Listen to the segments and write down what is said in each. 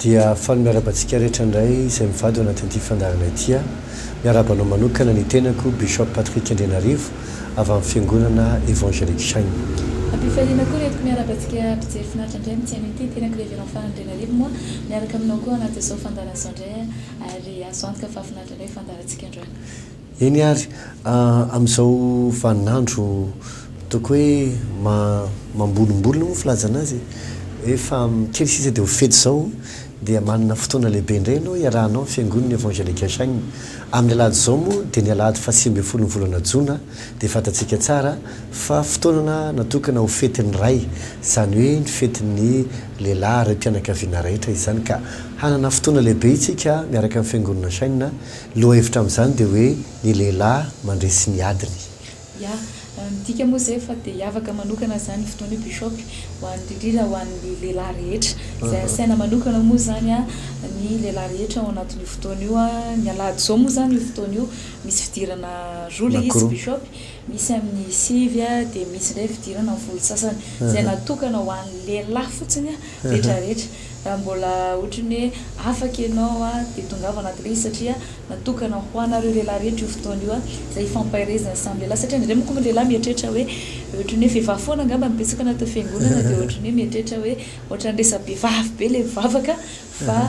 Dia faly miarahaba antsika rehetra indray izay mivady ao anatin'ity fandaharana ity aho. Miarahaba anao manokana ny tenako Bishop Patrick Andrianarivo avy amin'ny Fiangonana Evangelic Shine. Am-pifaliana koa ireto miarahaba antsika mpijery finaritra indray amin'ny tsy haino ity, ny tenako Reverend Fara Andrianarivo moa miaraka aminao koa anatin'izao fandaharana izao indray. Ary azo antoka fa finaritra indray ny fandaharantsika androany. Eny ary, amin'izao vaninandro ataoko hoe mambolimbolina moa filazana azy e, hoe fa kely sisa dia ho fety izao dia manana fotoana lehibe indray ianao hiarahanao ny Fiangonana Evangelika Shine. Amin'ny alahady izao moa dia ny alahady fahasivy ambin'ny folon'ny volana jona dia fantatsika tsara fa fotoanana natokana ho fetin'ny Ray, izany hoe ny fetin'ny. Lehilahy ara-pianakaviana raitra izany ka hanana fotoana lehibe isika miaraka amin'ny Fiangonana Shine. Ny lohahevitra amin'izany dia hoe ny lehilahy mandresy ny adiny. Ya, midika moa izay fa dia hiavaka manokana izany io fotoana io Bishop, ho an'ny indrindra ho an'ny lehilahy rehetra. Izay asaina manokana moa izany ny lehilahy rehetra ao anatin'io fotoana io. Ny alahady izao moa izany io fotoana io misy fidirana roa ilay izy Bishop, Misy amin'ny sivy dia misy indray fidirana volo sasany izay natokana ho an'ny lehilahy fotsiny retraretra. Raha mbola ohatran'ny hoe afaka ianao dia tongava anatin'ilay izy satria natokana ho anareo lehilahy rehetra io fotoana io izay hifampaherezana samy lehilahy satria indraindray manko ny lehilahy mieritreritra hoe ohatran'ny hoe vehivavy foana angamba no betsaka any anaty fiangonana dia ohatran'ny hoe mieritreritra hoe ohatran'ny resa-behivavy be ilay vavaka fa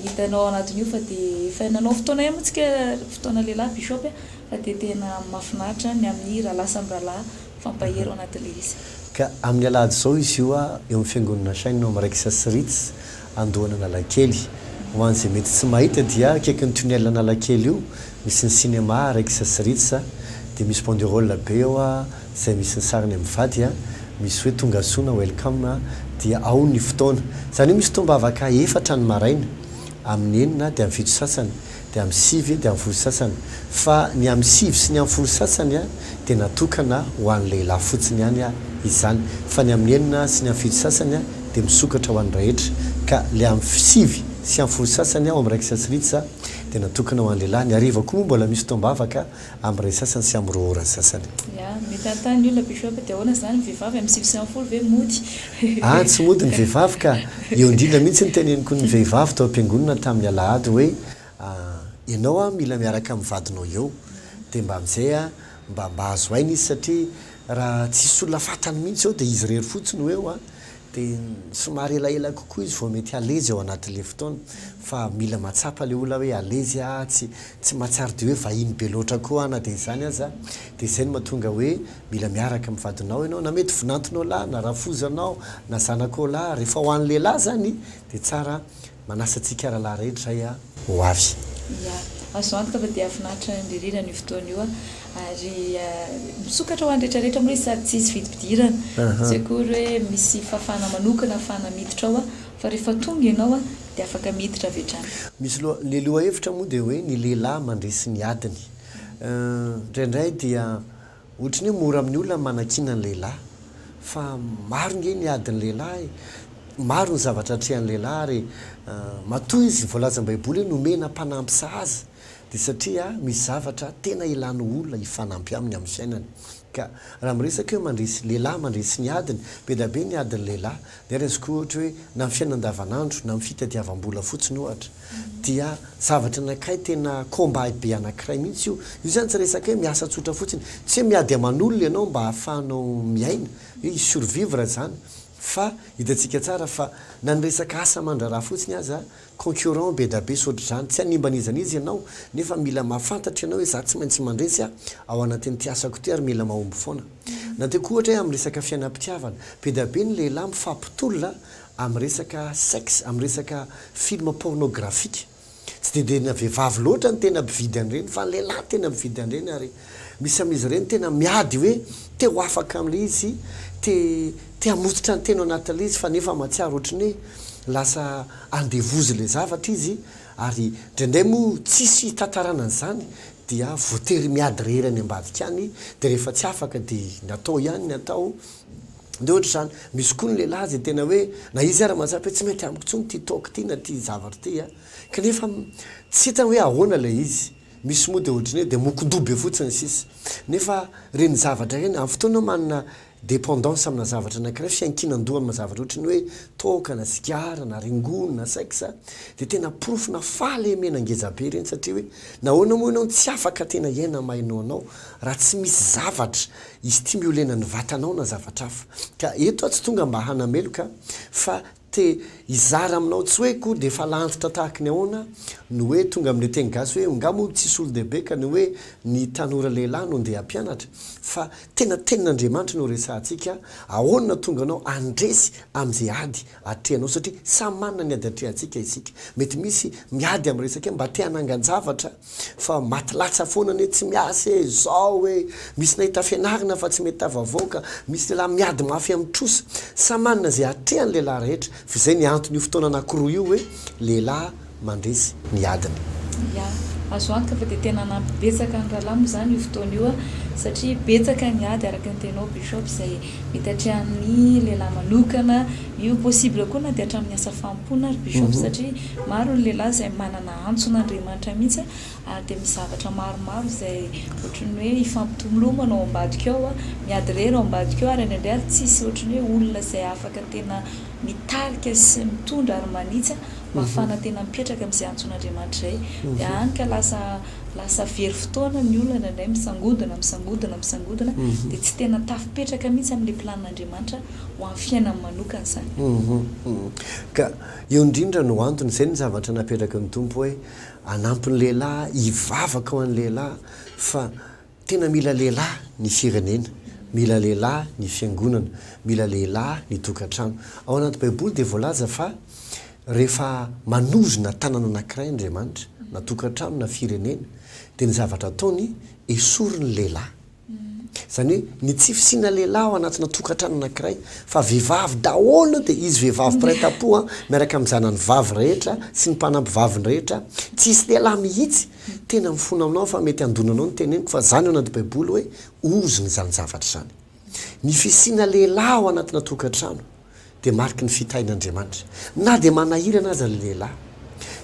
hitanao anatin'io fa dia efa nanao fotoana ihany moa isika fotoana lehilahy bishop a. Fa dia tena mafinaritra ny amin'ny rahalahy samy rahalahy mifampahery ao anatin'ilay izy. Ka amin'ny alahady izao izy io eo amin'ny fiangonana Nasainy no amin'ny Raikitra sy Ritz Andohan'Analakely. Ho an'izay mety tsy mahita dia akaikin'ny tunnel Analakely io misy ny cinéma Raikitra sy Ritz dia misy banderole be eo izay misy ny sarin'ny Amivady misy hoe tongasoa na welcome dia ao ny fotoana izany hoe misy fotoam-bavaka efatra ny maraina amin'ny enina dia amin'ny fito sasany dia amin'ny sivy dia amin'ny folo sasany, fa ny amin'ny sivy sy ny amin'ny folo sasany dia natokana ho an'ny lehilahy fotsiny ihany izany, fa ny amin'ny enina sy ny amin'ny fito sasany dia misokatra ho an'ny rahetra, ka ilay amin'ny sivy sy amin'ny folo sasany ao amin'ny Rexas Ritz dia natokana ho an'ny lehilahy, ny hariva koa moa mbola misy fotoam-bavaka Am re sasany sy am roa ora sasany. Ya, mitantany ny olona bishop, dia ahoana izany ny vehivavy am sivy sy am folo ve mody? Ah tsy mody ny vehivavy ka! Eo indrindra mihitsy ny teneniko ny vehivavy tao am-piangonana tamin'ny alahady hoe ah ianao ah mila miaraka amin'ny vadinao eo dia mba amin'izay ah mba mba azo aina izy satria raha tsisy olona fantany mihitsy eo dia izy irery fotsiny ho eo ah Dia somary elaela kokoa izy vao mety halezy ao anatin'ilay fotoana. Fa mila mahatsapa ilay olona hoe halezy aho, tsy tsy mahatsiaro dia hoe vahiny be loatra koa aho na dia izany aza. Dia izay no mahatonga hoe mila miaraka amin'ny vadinao ianao. Na mety vinantonao lahy, na rafozanao, na zanakao lahy. Rehefa ho an'ny lehilahy izany dia tsara Manasa antsika rahalahy rehetra izay a ho avy. Ya. Azo antoka fa dia finaritra indri rindra an'io fotoana io ary misokatra ho an'ny rehetra rehetra moa izy sady tsy hisy vidim-pidirana. Tsy akory hoe misy fafana manokana hafahana miditra ao fa rehefa tonga ianao dia afaka miditra avy hatrany. Misy loha, ilay lohahevitra moa dia hoe ny lehilahy mandresy ny adiny. Indraindray dia. Ohatry ny hoe mora amin'ny olona ny manakiana ny lehilahy, fa maro ange ny adin'ny lehilahy, maro ny zavatra atrehan'ny lehilahy ary matoa izy voalazan'ny baiboly hoe nomena mpanampy sahaza dia satria misy zavatra tena ilany olona hifanampy aminy amin'ny fiainany ka raha miresaka hoe mandresy lehilahy mandresy ny adiny, be dia be ny adin'ny lehilahy Dia raisiko ohatra hoe na ny fiainana andavanandro, na ny fitadiavam-bola fotsiny ohatra, dia zavatra anankiray tena combat be anankiray mihitsy io. Io izany tsy resaka hoe miasa tsotra fotsiny, tsy hoe miady aman'olona ianao mba ahafahanao miaina, hoe hi-survivre izany, fa hitantsika tsara fa na ny resaka asa aman-draharaha fotsiny aza Concurrent bedabe sotr'izany, tsy hanimba n'iza n'iza ianao, nefa mila mahafantatra ianao hoe za tsy maintsy mandresy a, ao anatin'ity asako ity ary mila mahomby foana. Na dia koa ohatra hoe amin'ny resaka fiainam-pitiavana, bedabe ny lehilahy mifampitolona amin'ny resaka sex, amin'ny resaka film pornographique. Tsy dia dia na vehivavy loatra no tena mpividy an'ireny fa ny lehilahy no tena mividy an'ireny ary. Misy amin'izy ireny tena miady hoe te ho afaka amin'ilay izy, te te hamototra ny teny ao anatin'ilay izy fa nefa mahatsiaro ohatry ny hoe lasa andevozy ilay zavatra izy ary indraindray moa tsisy hitantarana an'izany dia voatery miady rehery any ambadika any dia rehefa tsy afaka dia natao ihany ny atao dia ohatra izany. Misy koa ny lehilahy izay tena hoe na izy ary mahatsapa hoe tsy mety amiko intsony ity toaka ity na ity zavatra ity a! kanefa tsy hitany hoe ahoana ilay izy. Misy moa dia ohatry ny hoe dia mokon-doha be fotsiny sisa. Nefa ireny zavatra ireny, amin'ny fotoana manana dépendance amina zavatra anankiray, fiankinan-doha amina zavatra ohatry ny hoe toaka na sigara na rongony na sex, dia tena porofona fahalemena ngeza be ireny satria hoe nahoana moa ianao no tsy afaka tena hiaina mahaino anao raha tsy misy zavatra hi-stimulena ny vatanao na zavatra hafa. Ka eto aho tsy tonga mba hanameloka fa Te hizara aminao tsy hoe koa dia falantitra tahaka ny ahoana no hoe tonga amin'ilay teny gasy hoe nga moa tsy solondehibe ka ny hoe ny tanora lehilahy no ndeha hampianatra fa tena tenin'Andriamanitra no resahantsika ahoana no tonga anao handresy amin'izay ady atrehanao satria samy manana ny ady atrehantsika isika mety misy miady amin'ny resaka mba te hanangan-javatra Fa maty latsa foana anie tsy miasa e, zao e, misy nahita fianarana fa tsy mety tafavoaka, misy lehilahy miady mafy amin'ny trosa, samy manana izay atrehan'ny lehilahy rehetra, fa izay ny antony io fotoana anakiroa io hoe lehilahy mandresy ny adiny. Ya, azo antoka fa dia tena hanampy betsaka ny Ralamo izany io fotoana io satria betsaka ny ady araka ny tenao Bishop izay mety atrehan'ny lehilahy manokana, io possible koa na dia hatramin'ny asa fanompoana ary Bishop satria maro ny lehilahy izay manana antson'Andriamanitra mihitsy ary dia misy zavatra maromaro izay ohatran'ny hoe hifampitolomana ao ambadika ao, miady irery ao ambadika ao ary indraindray ary tsy hisy ohatran'ny hoe olona izay afaka tena mitarika sy mitondra ary manitsy mafana tena mipetraka amin'izay antson'Andriamanitra izay dia any ka lasa lasa very fotoana ny olona indraindray misangodina misangodina misangodina dia tsy tena tafipetraka mihitsy amin'ilay plan'Andriamanitra ho an'ny fiainany manokana izany. Ka. Io indrindra no antony, izay no zavatra napetraky ny Tompo hoe hanampy ny lehilahy, hivavaka ho an'ny lehilahy fa tena mila lehilahy ny firenena, mila lehilahy ny fiangonana, mila lehilahy ny tokantrano. Ao anaty baiboly dia voalaza fa rehefa manozona tanana anankiray Andriamanitra, na tokantrano na firenena, dia ny zavatra ataony, esory ny lehilahy. Izany hoe ny tsy fisiana lehilahy ao anatina tokantrano anankiray fa vehivavy daholo dia izy vehivavy mpiray tampo miaraka amin'ny zanany vavy rehetra sy ny mpanampy vaviny rehetra tsy hisy lehilahy mihitsy tena mifona aminao aho fa mety handona anao ny teneniko fa izany ao anaty baiboly hoe ozona izany zavatra izany ny fisiana lehilahy ao anatina tokantrano dia mariky ny fitahin'Andriamanitra. Na dia manahirana aza ny lehilahy.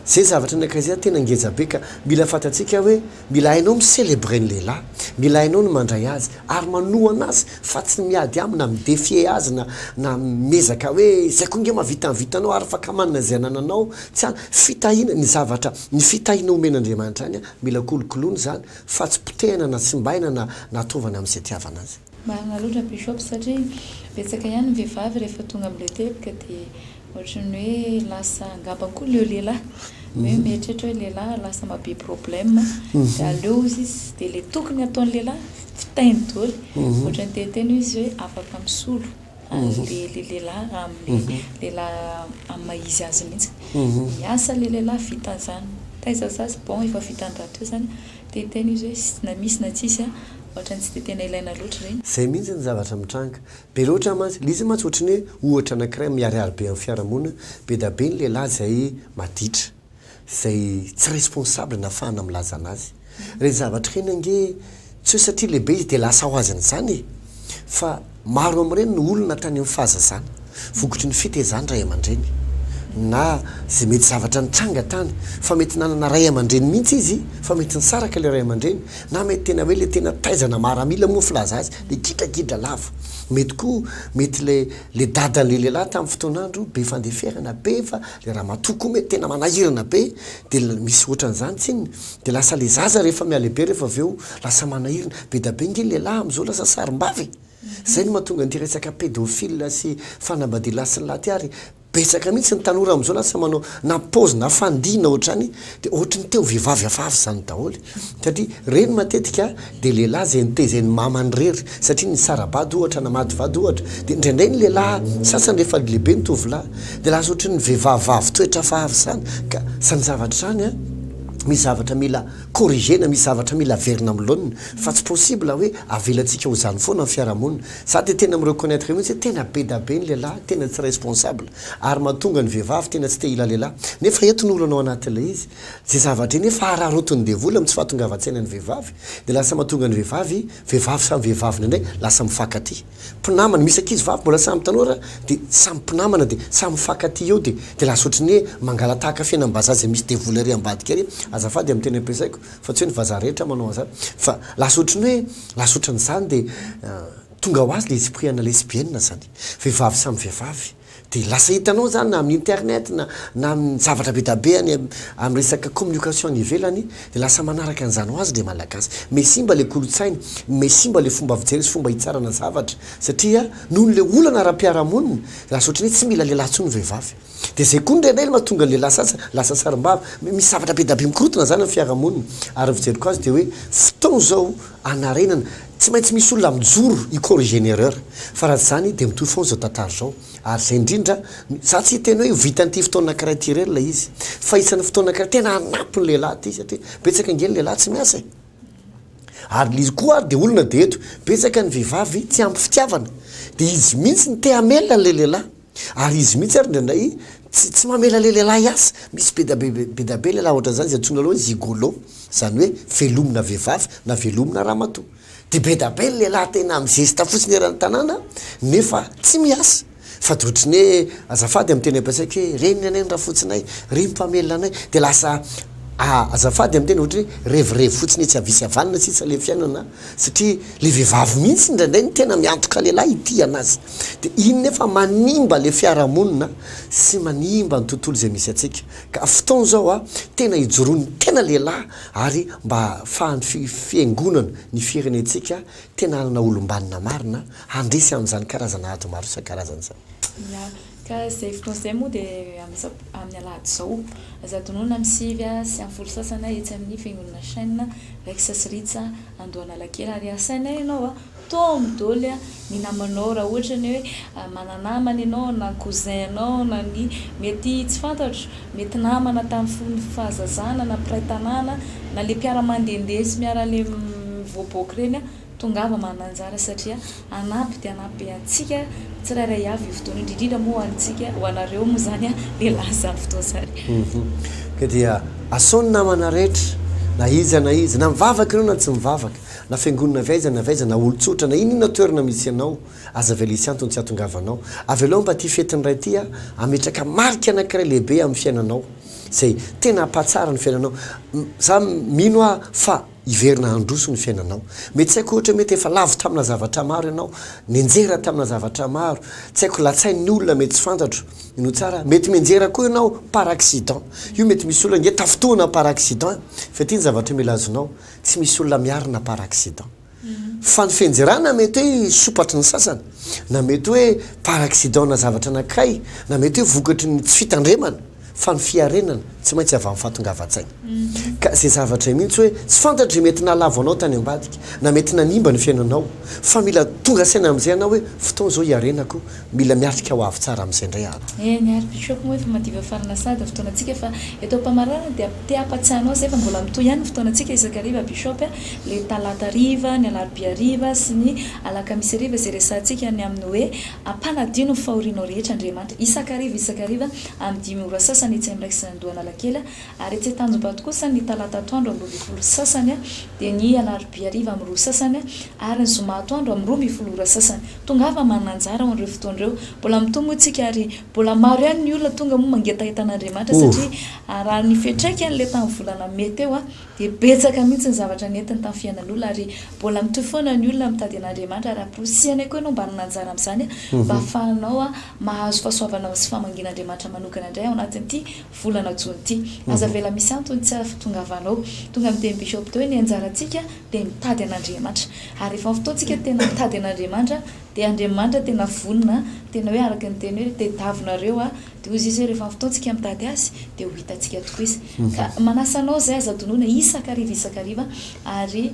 Izay zavatra ny ankaizia tena ngeja be ka mila fantatsika hoe mila hainao mi-celebrer ny lehilahy, mila hainao ny mandray azy ary manohana azy fa tsy ny miady aminy na mi-defier azy na na miezaka hoe izay koa nge mahavita ny vitanao ary afaka manana izay anananao tsy an fitahiana ny zavatra ny fitahiana omen'Andriamanitra any an mila kolokoloina izany fa tsy potehina na tsimbaina na na tovana amin'izay itiavana azy. Marina loatra Bishop satria betsaka ihany ny vehivavy rehefa tonga amin'ilay teboka dia ohatran'ny hoe lasa angamba koa leo lehilahy hoe mieritreritra hoe lehilahy lasa ma be problème dia aleo hozy izy dia ilay tokony ataon'ny lehilahy fitainy doly ohatran'ny te hiteny hoe izy hoe afaka misolo ary dia ilay lehilahy raha amin'ilay lehilahy amin'ny maha izy azy mihitsy ny asan'ilay lehilahy vita izany taiza zà c'est bon efa vitan'ny rahateo izany Dia tena izy hoe na misy na tsisy a, ohatrany tsy dia tena ilaina loatra ireny. Izay mihitsy ny zavatra mitranga. Be loatra mantsy, ilay izy mantsy ohatrany hoe ohatra anankiray miharihary be amin'ny fiarahamonina, be dia be ny lehilahy izay maditra, izay tsy responsable nahafahana milaza anazy. Ireny zavatra ireny ange tsy hoe satria lehibe izy dia lasa ho azy an'izany e! Fa Maro amin'ireny no olona tany amin'ny fahazazana, vokotry ny fitaizan'ny ray aman-dreny, na izay mety zavatra nitranga tany, fa mety nanana ray aman-dreny mihitsy izy, fa mety nisaraka ilay ray aman-dreny, na mety tena hoe ilay tena taizana maramila moa filaza azy, ilay gidragidra lava. Mety koa, mety ilay ilay dadan'ilay lehilahy tamin'ny fotoan'andro be fandeferana be, fa ilay ramatoa koa mety tena manahirana be, dia misy hoatran'izany tsinona. Dia lasa le zaza rehefa mihalehibe rehefa avy eo lasa manahirana. Bedabe nge ny lehilahy amin'izao lasa sarimbavy e! Zay no mahatonga an'ity resaka pédophile sy fanambadialahy sy ny lahy ity ary betsaka mihitsy ny tanora amin'izao lasa manao na paozy na fandihy na ohatrany dia ohatry ny te ho vehivavy hafahafa izany daholo e! Satria reny matetika Dia lehilahy izay nitaiza eny mama any rery satria nisara-bady ohatra na mady vady ohatra dia indraindray ny lehilahy sasany rehefa lehibe ny tovolahy dia lasa ohatran'ny vehivavy vavy toetra hafahafa izany ka izany zavatra izany an misy zavatra mila corrigena misy zavatra mila averina amin'ny laoniny fa tsy possible hoe avelantsika ho izany foana ny fiarahamonina za dia tena mi-reconnaitre mihitsy hoe tena bedabe ny lehilahy tena tsy responsable ary mahatonga ny vehivavy tena tsy te hila lehilahy nefa eto ny olana ao anatin'ilay izy Ze zavatra eny efa hararaotin'ny devoly amin'ny tsy fahatongavan-tsaina ny vehivavy dia lasa mahatonga ny vehivavy vehivavy samy vehivaviny indray lasa mifankatia. Mpinamana, misy ankizy vavy mbola samy tanora dia samy mpinamana dia samy mifankatia eo dia dia lasa ohatry ny hoe mangalatahaka fiainam-bazaha zay misy devoly ary ambadika ary azafady amin'ny teny ampiasaiko fa tsy hoe ny vazaha rehetra manao an'zany fa lasa ohatry ny hoe lasa ohatran'izany dia tonga ho azy le esprit ana lesbienne zany. Vehivavy samy vehivavy. Dia lasa hitanao izany na amin'ny internet na na amin'ny zavatra be da be any amin'ny resaka communication any ivelany dia lasa manaraka an'izany ho azy ilay Malagasy. May simba ilay kolontsaina, may simba ilay fomba fijery sy fomba hitsarana zavatra satria noho ilay olana ara-piarahamonina dia lasa ohatran'ny hoe tsy mila lehilahy intsony ny vehivavy. Dia izay koa indray ilay mahatonga ny lehilahy sasany lasa sarimbavy. Misy zavatra be da be mikorontana izany amin'ny fiarahamonina ary ny fijeriko azy dia hoe fotoana izao hanarenana. Tsy maintsy misy olona mijoro hi corriger ny erreur fa raha tsy izany dia mitohy foana izao tantara izao ary izay indrindra no, za tsy hiteny hoe ho vitan'ity fotoana anankiray ity irery ilay izy fa isan'ny fotoana anankiray tena hanampy ny lehilahy ity satria betsaka ange ny lehilahy tsy miasa e! ary lzy koa ary dia olona dia eto betsaka ny vehivavy tsy ampy fitiavana dia izy mihitsy no te hamela an'ilay lehilahy Ary izy mihitsy ary indraindray tsy tsy mamela le lehilahy azy. Misy be da be be da be lehilahy ohatran'izany izay antsoina hoe gigolo, izany hoe velomina vehivavy na velomina ramatoa. Dia be da be ny lehilahy tena mizesta fotsiny eran'ny tanàna nefa tsy miasa. Fa dia ohatry ny hoe azafady amin'ny teny ampiasaiko hoe reniny anie ny rafotsinay, ry mpamelona anay. Dia lasa azafady amin'ny teny ohatry ny hoe revirevy fotsiny etsy havia sy havanana sisa ilay fiainana. Satria le vehivavy mihitsy indraindray no tena miantoka lehilahy hitia-na azy. Dia iny nefa manimba le fiarahamonina sy manimba ny tontolo izay misy antsika. Ka fotoana izao a, tena hijoroan'ny tena lehilahy ary mba hahafahan'ny fi, fiangonana, ny firenentsika tena hanana olom-banona marina handresy an'izany karazana ady maro isan-karazany izany. Ia, Ka izay fotoana izay moa dia amin'ny sab amin'ny alahady izao. Aza adinoina amin'ny sivy sy amin'ny folo sasany etsy amin'ny fiangonana Shane, Rex sy Ritz, Andohanalakely ary asaina ianao toa amin'ny doly ny namanao raha ohatra ny hoe mana-namana ianao na cousin anao na ny mety tsy fantatro, mety namana tamin'ny fahazazana na mpiray tanàna na ilay mpiara-mandehandeha sy miara-mivoaboaka ireny. Tongava mananjara satria hanampy dia hanampy be antsika tsirairay avy io fotoana io, indrindra moa ho antsika, ho anareo moa izany lehilahy izany fotoana izany. Ka dia asao ny namana rehetra, na iza na iza, na mivavaka ianao na tsy mivavaka, na fiangonana avy aiza na avy aiza, na olon-tsotra, na inona toerana misy anao, aza avela hisy antony tsy hahatongavanao. Avelao mba ity fetin'ny Ray ity hametraka marika anankiray lehibe amin'ny fiainanao, izay tena hampahatsara ny fiainanao. Izaho mino aho fa. Hiverina handroso ny fiainanao. Mety tsy haiko ohatra mety efa lavo tamina zavatra maro ianao, nianjera tamina zavatra maro, tsy haiko latsain'ny olona mety tsy fantatro ny ho tsara, mety mianjera koa ianao par accident, io mety misy olona nge tafintohina par accident fa ity ny zavatra mila azonao, tsy misy olona miarina par accident fa ny fianjerana mety hoe sopatry ny sasany na mety hoe par accident-na zavatra anankiray na mety hoe vokatry ny tsy fitandremana. fa ny fiarenana tsy maintsy avy amin'ny fahatongavan-tsaina. Ka izay zavatra mihitsy hoe tsy fantatry mety nahalavo anao tany ambadika na mety nanimba ny fiainanao fa mila tonga saina amin'izay ianao hoe fotoana izao hiarenako, mila miatrika ho avy tsara amin'izay indray aho. Eny ary Bishop moa efa madiva farina sady fotoanantsika fa eto am-pamaranana dia te hampatsiahy anao izay fa mbola mitohy ihany ny fotoanantsika isakariva Bishop a, le talata hariva, ny alarobia hariva sy ny alakamisy hariva izay resahantsika ny amin'ny hoe ampanadio ny fahorianao rehetra Andriamanitra isakariva isakariva amin'ny dimy ora sasany etsy amin'ny Rex Andoha Analakely ary etsy Antanjombato kosa ny talata atoandro amin'ny roa ambin'ny folo sasany dia ny alarobia hariva amin'ny roa sasany ary ny zoma atoandro amin'ny roa ambin'ny folo ora sasany. Tongava manana anjara ao an'ireo fotoana ireo. Mbola mitohy moa isika ary mbola maro ihany ny olona tonga moa mangetaheta an'Andriamanitra satria raha ny fiantraikan'ilay tamin'ny volana mey teo Dia betsaka mihitsy ny zavatra nentiny tamin'ny fiainan'olona ary mbola mitohy foana ny olona mitady an'Andriamanitra ary amporisihana koa ianao mba hanana anjara amin'izany mba hahafahanao mahazo fahasoavanao sy famangian'Andriamanitra manokana indray ao anatin'ity volana jona ity. Aza avela misy antony tsy ahatongavanao tonga miteny bishop teo hoe ny anjarantsika dia mitady an'Andriamanitra ary rehefa amin'ny fotoantsika tena mitady an'Andriamanitra dia Andriamanitra tena vonona tena hoe araka ny teny hoe tedavonareo Dia hoy Jesoa, Rehefa avy tao tsika mitady Azy, dia ho hitantsika tokoa Izy. Ka manasa anao izay, aza adinoina, isan-kariva isan-kariva, ary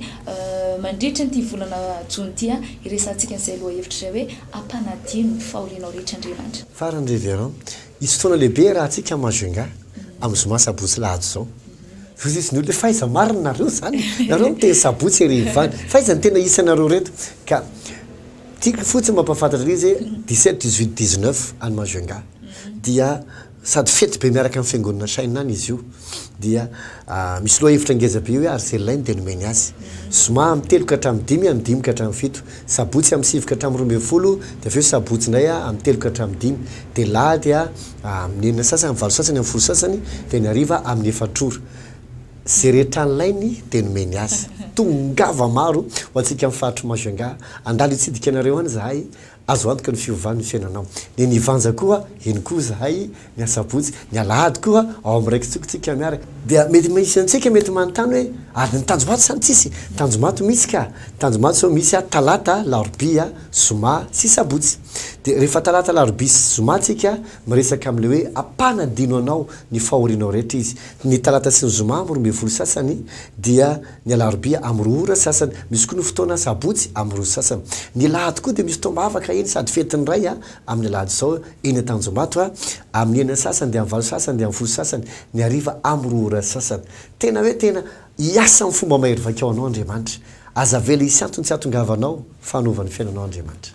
mandritra an'ity volana jona ity, hiresahantsika an'izay lohahevitra izay hoe, Ampanadino ny fahorianao rehetra Andriamanitra. Farany Révérend, hisy fotoana lehibe rahantsika Majunga, amin'ny zoma, sabotsy, alahady izao. Hoy Izy, ny olona hoe, fa aiza marina nareo izany? Nareo miteny sabotsy heriva any, fa aiza ny tena isanareo ireto? Ka Tiako fotsiny mampahafantatra an'izy hoe dix-sept, dix-huit, dix-neuf any Majunga dia sady fety be miaraka amin'ny fiangonana Shin any izy io dia misy lohahevitra ngeza be hoe Arzella no dia nomeny azy. Zoma amin'ny telo ka hatramin'ny dimy, amin'ny dimy ka hatramin'ny fito. Sabotsy amin'ny sivy ka hatramin'ny roa ambin'ny folo dia avy eo sabotsy indray amin'ny telo ka hatramin'ny dimy. Dia alahady amin'ny enina sasany, amin'ny valo sasany, amin'ny folo sasany dia ny hariva amin'ny efatr'ora. Ze rehetra alainy de nomeny azy. Tongava maro ho antsika am faritry Majunga, andalo hitsidika anareo any zahay, azo antoka ny fihovan ny fiainanao. Ny ny vanja koa eny koa zahay, ny asabotsy, ny alahady koa ao am raiki-tsoko tsika miara. Dia mety misy antsika mety manontany hoe ary ny tanjomaty sa ny tsisy? Tanjomaty misy ka, tanjomaty zao misy a talata, larobia, zoma sy sabotsy. Dia rehefa talata, larobia sy zoma tsika Miresaka amin'ilay hoe ampanadino anao ny fahorianao rehetra izy. Ny talata sy ny zoma amin'ny roa ambin'ny folo sasany dia ny alarobia amin'ny roa ora sasany, misy koa ny fotoana sabotsy amin'ny roa sasany. Ny alahady koa dia misy fotoam-bavaka eny sady fetin'ny Ray amin'ny alahady izao eny Antanjombato amin'ny enina sasany dia amin'ny valo sasany dia amin'ny folo sasany ny hariva amin'ny roa ora sasany. Tena hoe tena hiasa amin'ny fomba mahery vaika ho anao Andriamanitra. Aza avela hisy antony tsy hahatongavanao fa hanova ny fiainanao Andriamanitra.